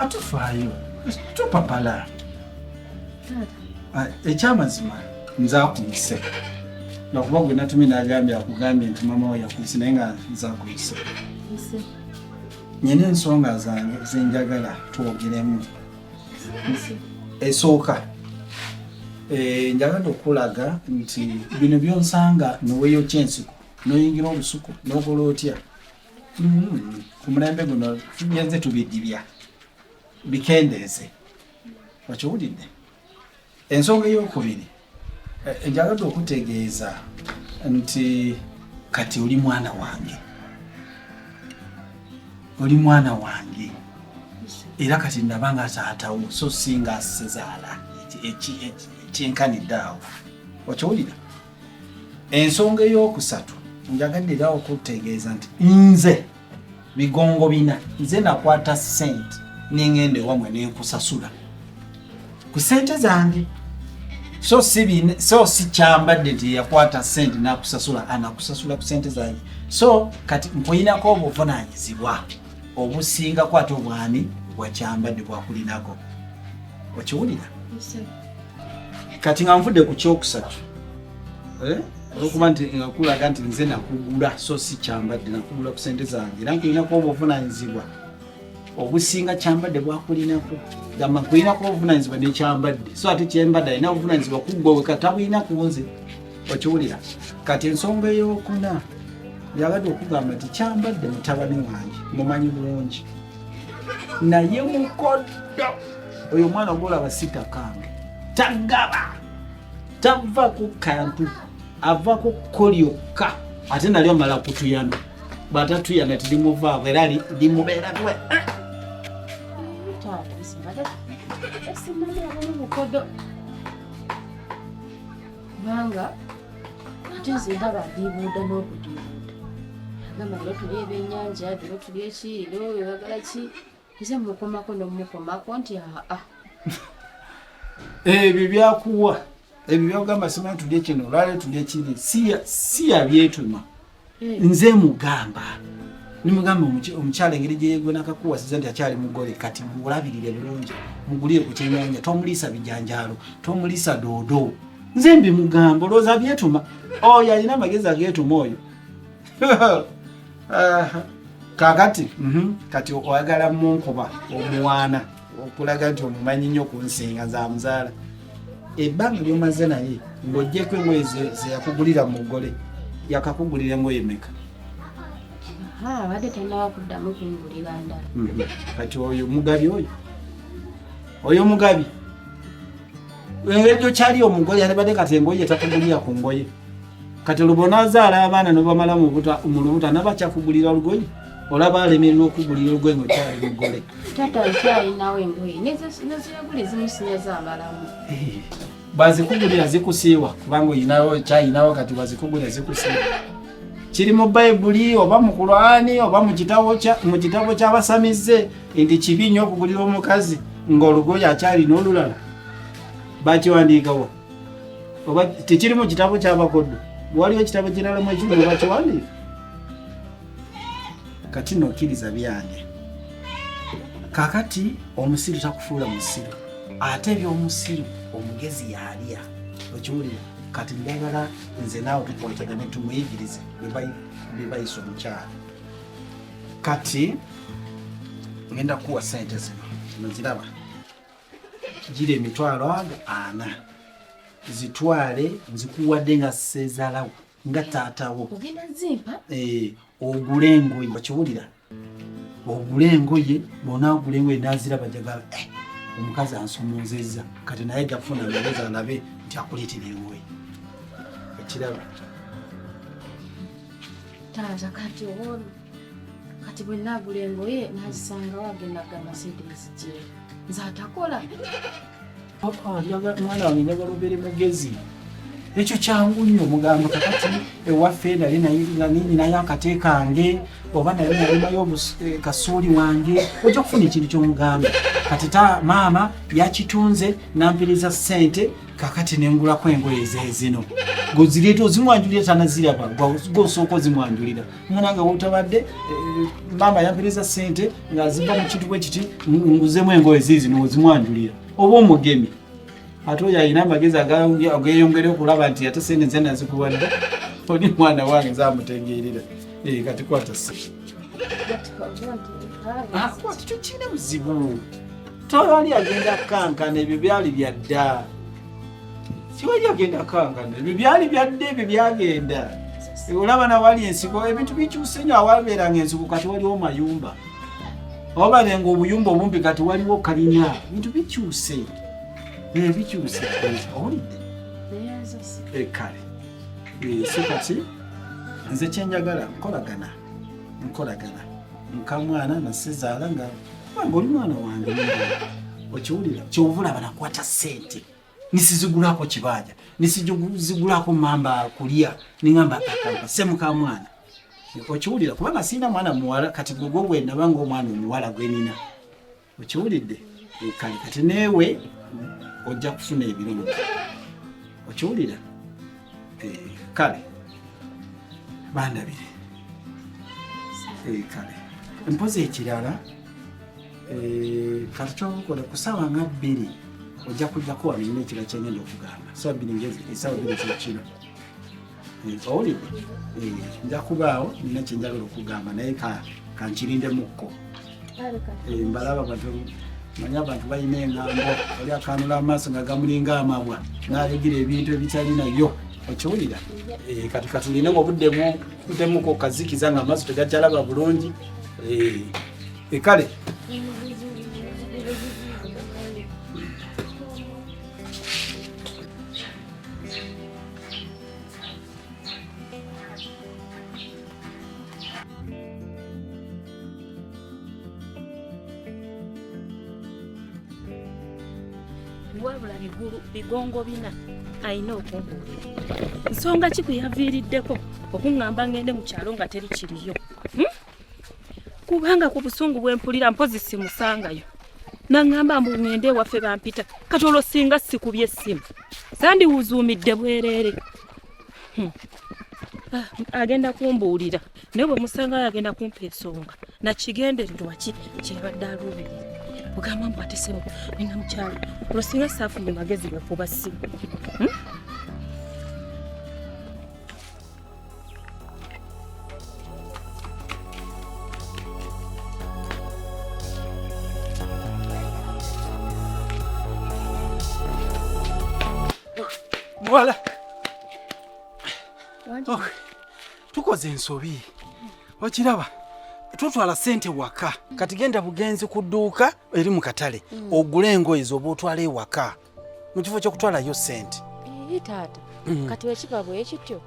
atufaayo tupapala ekyamazima nze akuyise lwakuba gwe natumye nagambye akugambye nti mama we yakuyise naye nga nze akuyise nyina ensonga zange zenjagala twogeremu esooka eh, njagala okulaga nti bino byonsanga neweyokya ensiko noyingira olusuku nogola otya mm-hmm. ku mulembe guno tugenze tubidibya bikendeeze okiwulidde Ensonga ey'okubiri eh, njagadde okutegeeza nti kati oli mwana wange, oli mwana wange era kati ndaba nga zaatawo so si nga sezaala ekyenkanidde awo okiwulira ensonga ey'okusatu njagadde era okutegeeza nti nze bigongo bina nze nakwata sente nengenda ewamwe nenkusasula ku sente zange so sibin so sikyambadde nti yakwata sente nakusasula anakusasula ku sente zange so kati nkulinako obuvunanyizibwa obusingako ate obwani bwakyambadde bwakulinako okiwulira kati nga nvudde ku kyokusatu eh? olwokuba nti nakulaga nti nze nakugula so si kyambadde nakugula ku sente zange era nkulinaku obuvunanyizibwa obusinga kyambadde bwakulinako gamba nkulinako obuvunanyizibwa nekyambadde so ate kyembadde alina obuvunanyizibwa kuggwa weka tabulina ku nze okiwulira kati ensonga eyokuna yabadde okugamba nti kyambadde mutabani wange mumanyi bulungi naye mukoddo oyo omwana golaba sitakange tagaba tava ku kantu ava ku kko lyokka ate nali omala kutuyana bwatatuyana tilimuvaako era limubeerako kubanga ate nze ndaba ndibuuda n'okudibuuda gamba lero tuli ebyennyanja lero tuli eki lero webagala ki nze mukomako nomukomako nti aa ebyo byakuwa ebyo byogamba simanyi tulye kino olwale tulye kiri si yabyetuma nze mugamba nimugamba omukyala engeri gyeyegona kakuwasiza nti akyali mugole kati mulabirire bulungi mugulire ku kyenyanja tomuliisa bijanjaalo tomuliisa doodo nze mbimugamba olowooza byetuma oyo alina amagezi ageetuma oyo kakati mhm, kati oyagala munkuba omwana okulaga nti omumanyi nnyo kunsinga nze amuzaala ebbanga lyomaze naye ng'ogyeko engoye zeyakugulira mu mugole yakakugulira engoye meka abadde tanawa kuddamu kungulira ndala mhm. kati oyo mugabi oyo oyo mugabi ejo kyali omugole yalibadde kati engoye takugulira ku ngoye kati lubona azaala abaana nobamala mu lubuta nabakyakugulira olugoye olaba alemererwa okugulira olugoye nga okyali mugole taata nkyalinawo engoye neziragula ezimusinya zabalamu eh, bazikugulira zikusiiwa kubanga olinawo kyalinawo kati bazikugulira zikusiiwa kiri mu bayibuli oba mu kulwani oba mu kitabo ky'abasamize nti kibi nnyo okugulira omukazi ng'olugoye akyalina olulala bakiwandiikawo oba tekiri mu kitabo ky'abakodo waliwo ekitabo kirala mu ekimu bakiwandiika kati nokkiriza byange kakati omusiru takufuula musiru ate ebyomusiru omugezi yalya okiwulira kati njagala nze naawe tukwatagane tumuyigirize bebayisa omukyala kati ngenda kuwa sente zino noziraba gira emitwalo ago ana zitwale nzikuwadde nga sezalawo nga taatawo ogenda zimpa eh, ogule engoye okiwulira ogule engoye bona ogule engoye naziraba jagala eh, omukazi ansomoozezza kati naye jafuna lowooza alabe nti akuleetera engoye ekiraba taata kati owolu kati bwe nagula engoye nazisangawo agenda gamasedesi gye nze atakola mwana wange njagala obeere mugezi ekyo kyangu nnyo omugamba kakati ewaffe nali nayininayo akate kange oba nali nalimayo eh, kasuuli wange ojja kufuna ekintu kyomugamba kati ta maama yakitunze nampiriza ssente kakati nengulako engoye zezino gozireeta ozimwanjulira tanaziraba gosooka ozimwanjulira mwana nga wotabadde eh, maama yampiriza ssente ngaziva mu kintu bwe kiti nguzemu engoye zizino ozimwanjulira oba omugemi ate oyo alina amagezi ageyongere okulaba nti ate sente nze nazikuwadde oli mwana wange nze amutegeerera eh, kati kwata ah, tukirina buzibu tewali agenda kukankana ebyo byali byadda tewali agenda kukankana ebyo byali byadda ebyo byagenda olaba nawali ensiko ebintu bikyuse nyo awabeeranga ensiko kati waliwo mayumba obale nga obuyumba obumpi kati waliwo kalina bintu bikyuse eh, bikyuse owulidde eh, kale eh, so kati nze kyenjagala nkolagana nkolagana nkamwana nasizaala nga oli mwana wange okiwulira kyovulaba nakwata sente nisizigulako kibanja nisizigulako mamba kulia ningamba akamba semu ka mwana okiwulira kubanga sina mwana muwala kati gwegwo bwenabanga omwana omuwala gwenina okiwulidde eh, kale kati newe ojja kufuna ebirungi okiwulira eh, kale bandabire eh, kale mpozi ekirala Eh, kati kyobukola kusawa nga bbiri ojja kujjako wano nyina ekira kyengenda okugamba sawa bbiri ngezi esawa eh, bbiri kyekino eh, owulidde nja kubaawo nyina kyenjagala okugamba naye kankirindemukko mbalaba bantu manyi abantu balina engambo oli akanula amaaso nga gamulinga amabwa nalegira ebintu ebitalinayo okiwulira kati katulina obudde mutemuko kazikiza nga amaaso tegakyalaba bulungi Ekale. wabula bigulu bigongo bina alina okumbuulira nsonga ki kwe yaviiriddeko okuŋŋamba ngende mu kyalo nga teri kiriyo hmm? kubanga ku busungu bwe mpulira mpozi simusangayo naŋŋamba mbu ŋŋende ewaffe bampita kati olwo singa sikubye essimu sandiwuzuumidde bwereere hmm. ah, agenda kumbuulira naye bwe musangayo agenda kumpa ensonga nakigendererwa ki kyebadde aluubirira ogamba mbu atesemu nina mukyalo olwo singa saafunye magezi gakuba ssimu hmm? muwala oh, tukoze ensobi okiraba tutwala sente waka kati genda bugenzi ku dduuka eri mu katale mm. ogule engoye zoba otwala ewaka mu kifo ky'okutwalayo ssente ii taata mm. kati wekiba bwekityo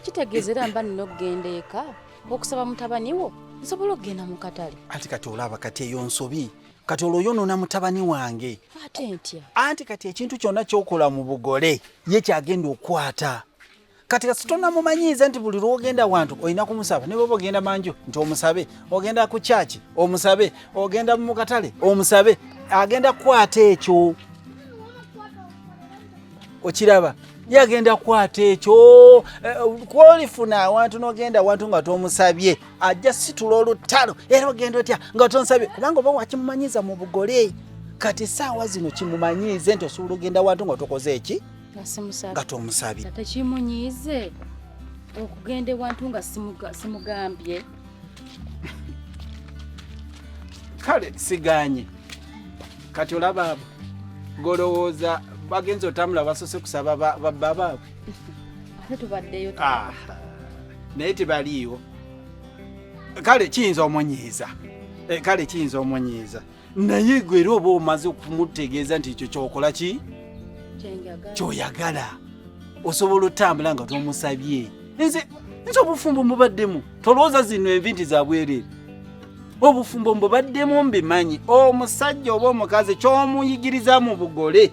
kitegeeza era mba nina okugenda eka okusaba mutabani wo nsobola okugenda mu katale anti kati olaba kati eyo nsobi kati olwo yonoona mutabani wange ate ntya anti kati ekintu kyonna kyokola mu bugole ye kyagenda okukwata kati kasitona mumanyiiza nti buli lwogenda wantu olina kumusaba ne bwoba ogenda manju nti omusabe ogenda ku kyaki omusabe ogenda mu katale omusabe agenda kukwata ekyo okiraba ye agenda kukwata ekyo eh, kwolifuna awantu nogenda awantu nga tomusabye ajja situla olutalo era ogenda otya nga tonsabye kubanga oba wakimumanyiiza mu bugole kati saawa zino kimumanyiize nti osobola ogenda wantu nga tokoze eki nga tomusabye tekimunyiize okugenda ewantu nga simugambye kale siganye kati olaba abo golowooza bagenza otambula basose kusaba bababaabwe naye tebaliiwo kale kiyinza omunyiiza eh, kale kiyinza omunyiiza naye gwe era oba omaze okumutegeeza nti ekyo kyokola ki kyoyagala osobola otambula nga tomusabye nze nze obufumbo mubaddemu tolowooza zino envi nti zabwereere obufumbo mbubaddemu mbimanyi omusajja oba omukazi kyomuyigiriza mu bugole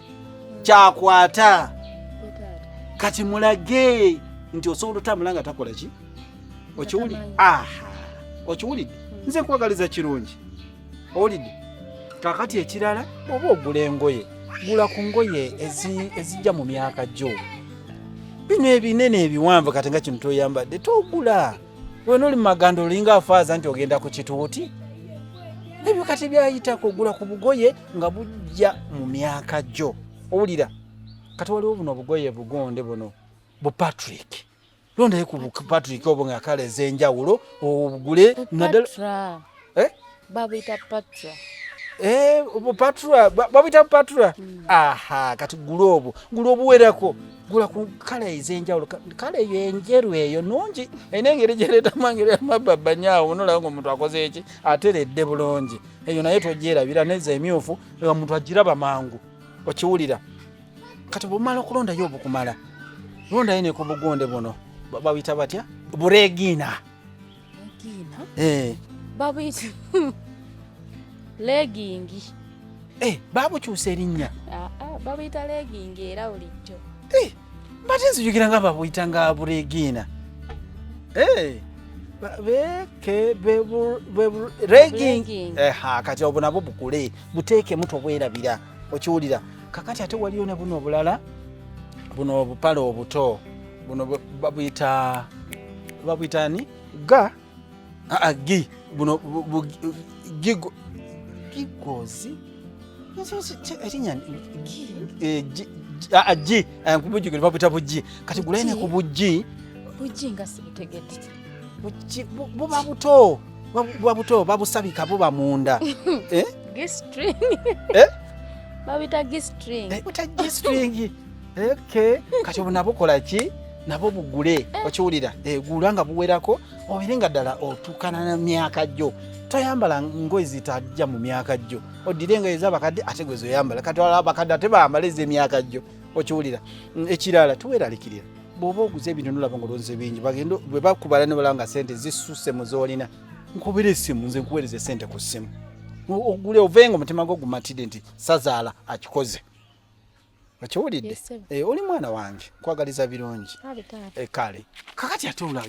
kyakwata kati mulage nti osobola otambula nga takola ki okiwulidde nze nkwagaliza kirungi owulidde kakati ekirala oba ogula engoye gula ku ngoye ezijja mu myaka gyo bino ebinene ebiwanvu kati nga kino toyambadde togula wena oli mumaganda olinga afaaza nti ogenda ku kituuti ebyo kati byayitako ogula ku bugoye nga bujja mu myaka gyo owulira kati waliwo buno obugoye bugonde buno bu patrick londayo ku patrick obo nga kala ez'enjawulo ogule naddala eh? babuyita patra eh, patra babuyita patra hmm. aha kati gula obwo gula obuwerako gula ku kala ez'enjawulo kala eyo enjeru eyo nungi erina engeri gyereetamu angeri yamababanyawo nolaba nga omuntu akoze eki ateredde bulungi eyo naye togyerabira neza emyufu omuntu agiraba mangu okiwulira kati bumala okulondayo obukumala londayo ne ku bugonde buno babuyita batya buregiina eh. babuyita legingi eh, babukyusa erinnya ah, ah, babuyita legingi era bulijjo eh, mbate nzijukira nga babuyita nga buregiina kati obwo nabwo bukule buteekemu tobwerabira okiwulira kakati ate waliyo ne buno obulala buno obupale obuto buno babuyita babuyita ani ga aa gi buno gigo gigozi erinya eh, gi eh, kubujjukira babuyita bujji kati gulaine ku bujji bujji nga sibutegedde buba buto buba buto babusabika buba munda eh? eh? babita gistring eh, gistring okay kati obu nabo kola ki nabo bugule eh. okiwulira eh, gula nga buwerako obere nga ddala otuukana na myaka gyo toyambala ngoye zitajja mu myaka gyo oddire engoye ezabakadde ate gwe zoyambala kati abakadde ate bambala ez'emyaka gyo okiwulira mm, ekirala tuweralikirira bwoba oguze ebintu nolaba ngolonze bingi bagenda bwe bakubala ne balaba nga sente zisusse mu z'olina nkubira essimu nze nkuweereza esente ku ssimu ogule ovenga omutima gwo gumatidde nti sazaala akikoze okiwulidde eh, oli mwana wange nkwagaliza birungi ah, eh, kale kakati ate olaba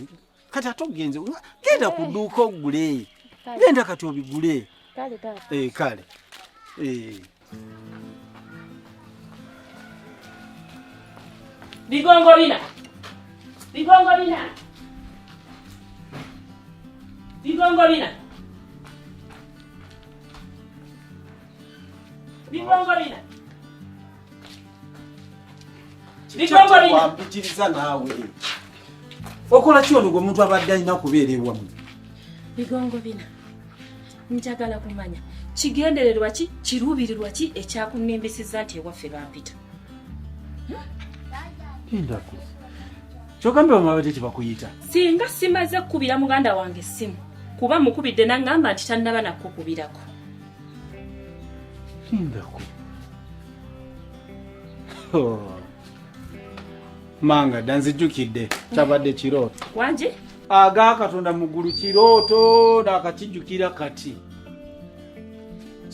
kati ate ogenze genda ku dduuka ogule genda kati obigule kale kale eh, eh. bigongo bina bigongo bina bigongo bina bigongo bina wampitiriza naawe okola ki ono gwemuntu abadde alina kubeera ewamu bigongo bina njagala kumanya kigendererwa ki kiruubirirwa ki ekyakunembeseza nti ewaffe bampita endako kyogambye bamabadde tebakuyita singa simaze kukubira muganda wange essimu kuba mukubidde nangamba nti tannaba nakukubirako lindako oh. manga danzijukidde kyabadde kirooto wangi aga katonda muggulu kirooto nakakijukira kati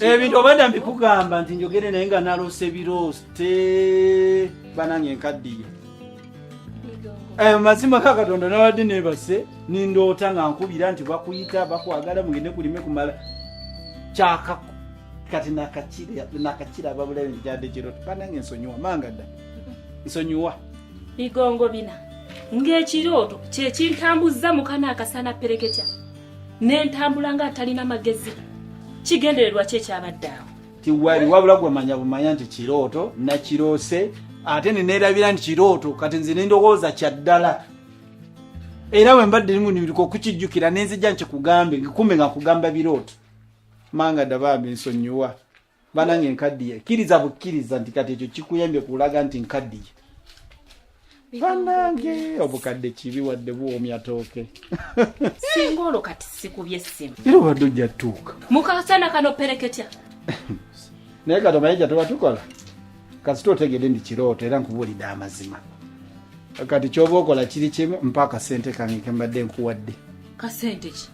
ebintu obadda mbikugamba nti njogere naye nga naloose biroote banange nkaddiye Eh, mazima ka katonda nabadde nebase nindoota nga nkubira nti bakuyita bakwagala mugende kulime kumala kyaka kati nakakira babulabe ntikyadde kirota banange ensonyiwa manga dda nsonyiwa bigongo bina ng'ekirooto kyekintambuzza mukana akasana pereketya nentambula nga atalina magezi kigendererwa kyekyabadde awo tiwali wabula gwe manya bumanya nti kirooto nakiroose ate neneerabira nti kirooto kati nze nendowooza kyaddala era bwe mbadde limunimiriku okukijjukira nenzija nkikugambe ngikume nga kugamba birooto manga dabambi nsonyiwa banange nkaddiye kkiriza bukkiriza nti kati ekyo kikuyambye kulaga nti nkaddiye banange obukadde kibi wadde buwoomya tooke singa olwo kati sikubye essimu era obadde ojja tuuka mukasana kano pereketya naye kati omaye jatuba tukola kasita otegede ndi kirooto era nkubuulidde amazima kati kyoba okola kiri kimu mpa akasente kange kembadde nkuwadde kasente ki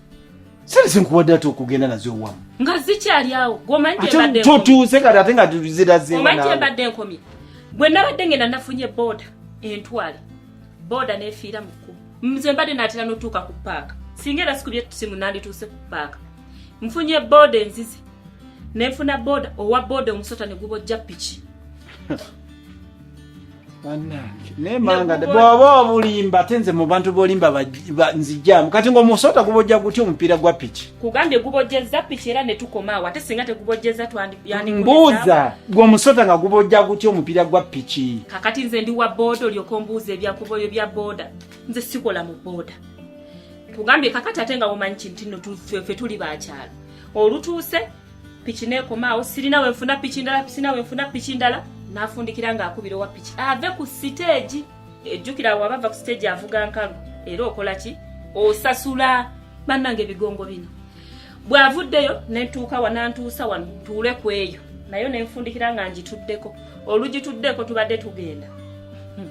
sente zenkuwadde ate okugenda nazo ewamu nga zikyali awo gwomanitotuuse kati ate nga zirazeomanyi kyembadde enkomye bwe nabadde ngenda nafunye booda entwale booda nefiira mu kkubo nze mbadde natera notuuka ku paaka singa era sikubye tusimu nandituuse ku paaka nfunye booda enzize nenfuna booda owa booda omusota negubojja piki bw'oba obulimba ate nze mu bantu bolimba nzijamu kati ng'omusota gubojja gutya omupiira gwa piki kugambye gubojjezza piki era ne tukomaawo ate singa tegubojjezza mbuuza gweomusota nga gubojja gutya omupiira gwa piki kakati nze ndi wa booda olyoka ombuuza ebyakuboyo bya booda nze sikola mu booda kugambye kakati ate nga womanyi kinti no fe tuli bakyalo olutuuse piki nekomaawo sirina wenfuna piki ndala sirina wenfuna piki ndala nafundikira nga akubira owa piki ave ku siteegi ejjukira awo abava ku siteegi avuga nkalu era okola ki osasula bannanga ebigongo bino bw'avuddeyo nentuuka wa nantuusa wano ntuule ku eyo nayo nenfundikira nga ngituddeko olugituddeko tubadde tugenda hmm.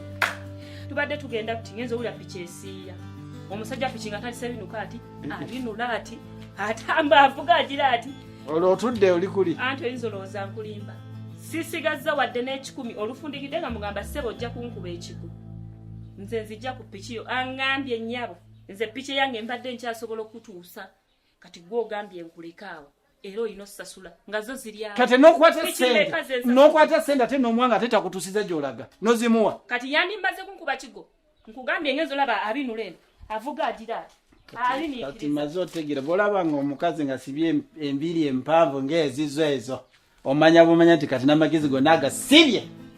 tubadde tugenda kuti ngenza owulira piki esiiya omusajja piki nga talise binuka ati alinula ati atamba avuga agira ati olwo otudde oli kuli anti oyinza olowooza nkulimba sisigazza wadde n'ekikumi olufundikidde nga mugamba ssebo ojja kunkuba ekigu nze nzijja ku piki yo aŋambye nnyabo nze piki yange mbadde nkyasobola okutuusa kati gwe ogambye nkulekaawo era olina osasula nga zo zirya kati nokwata sente nokwata sente ate nomwanga ate takutusiza gyolaga nozimuwa kati yandimaze kunkuba kigo nkugambye ngenzo laba abinula eno avuga agira kati maze otegera bwolaba nga omukazi nga sibye embiri empanvu ngaezizo ezo omanya bumanya nti kati namagezi gona agasibye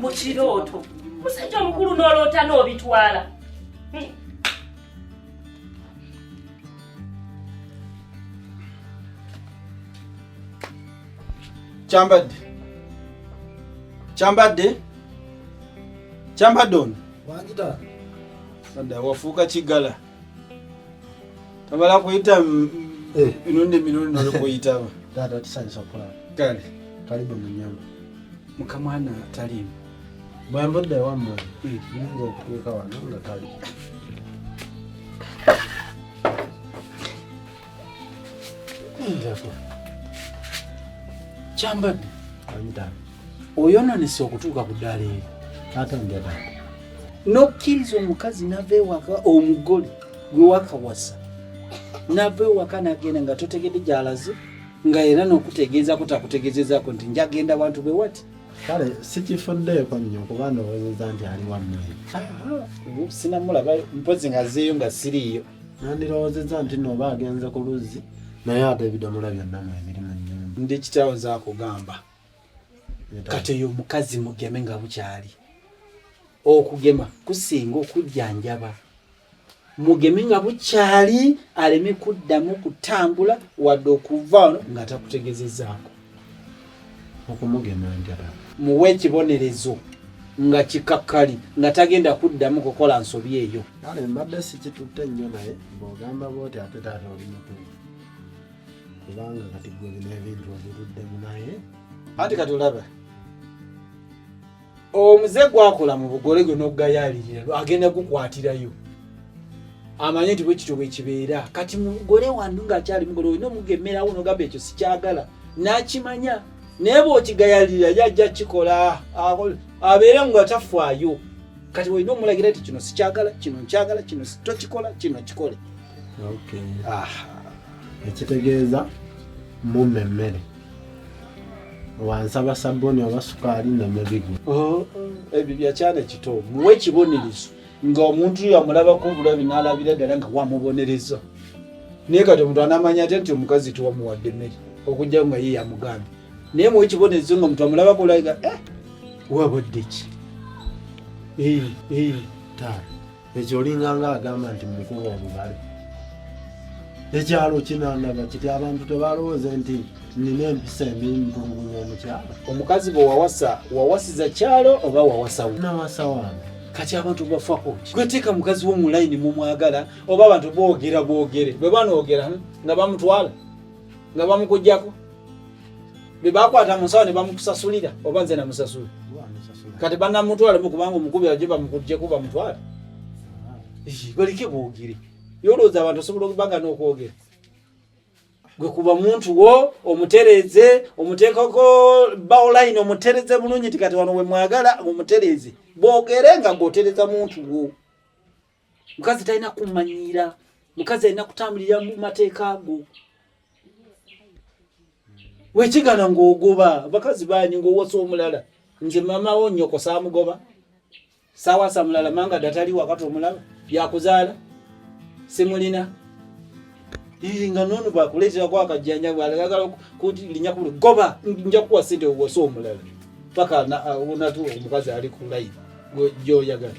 mu kirooto musajja omukulu n'oloota n'obitwala hmm. kyambadde kyambadde kyambadde ono wafuuka kiggala Tabala kuyita eh. mirundi mirundi nolikuyitaba taata tusanyusa okulaba kale taliba munyama mukamwana talimu bwembudde wammwe hmm. yinza okutuuka wano nga tali kyambadde oyononese okutuuka ku ddaala eri n'okkiriza omukazi nava ewaka omugole gwe wakawasa nava ewaka nagenda nga totegedde gyalaze nga era n'okutegeezako takutegezezaako nti njagenda bantu be wati kale sikifuddeeko nnyo kuba ndowoozeza nti ali wammwe sinamulaba mpozi ngazeeyo nga siriiyo nandirowoozezza nti nooba agenze ku luzzi naye ate ebidomola byonna mwe biri mu nyumba ndi kitaawo zakugamba kati oyo omukazi mugeme nga bukyali okugema kusinga okujjanjaba mugeme nga bukyali aleme kuddamu kutambula wadde okuva ono nga takutegezezaako okumugema njala muwe ekibonerezo nga kikakkali nga tagenda kuddamu kukola nsobi eyo kale mbadde sikitutte nnyo naye bwogamba bwoti ate taata oli mutuufu kubanga kati gwe bino ebintu obiruddemu naye anti kati olaba omuze gwakola mu bugole gwe n'ogayaalirira agenda gukwatirayo amanye nti bwekityo bwekibeera kati mugole wandu ngaakyali mugole olina omugemerawo nogamba ekyo sikyagala nakimanya naye bwokigayalirira yajja kikola abeere nga tafaayo kati olina omulagira ti kino sikyagala kino nkyagala kino tokikola kino kikole ekitegeeza mumma emmere wansaba sabuni oba sukaali namabigu oh, ebyo byakyana kito muwe ekibonerezo nga omuntu yo amulabako obulabi nalabira ddala nga wamubonereza naye kati omuntu anamanya ate nti omukazi tiwamuwadde mmere okujja nga ye yamugambye naye muwe ekibonerezo nga omuntu amulabako olaga eh, wabudde ki eh, eh, taata ekyo olinganga agamba nti mukuba omubale ekyalo kinandaba kiti abantu tebalowooze nti nina empisa embi ntulugunya omukyalo omukazi bwe wawasa wawasiza kyalo oba wawasawo nawasa wange kati abantu bafako gweteeka mukazi wo mu layini mumwagala oba abantu boogera boogere bwe banoogera nga bamutwala nga bamukujjako bye bakwata mu nsawo ne bamukusasulira oba nze namusasula kati banamutwale mu kubanga omukubi aje bamukujjeko bamutwale baleke boogere yolowooza abantu osobola okubanga n'okwogera gwe kuba muntu wo omutereeze omuteekako baoline omutereze bulungi ti kati wano wemwagala omutereeze boogere nga gwotereza muntu wo mukazi talina kumanyiira mukazi alina kutambulira mu mateeka ago wekigana ngaogoba abakazi banyi ngaowasa omulala nze mamawo nyoko samugoba sawasa mulala manga datali wakati omulala yakuzaala simulina nga nono bakuleterako akajjanja bwalagagala kulinya kuli goba nja kuwa sente owasa omulala paka onatu omukazi ali kulayi gyoyagala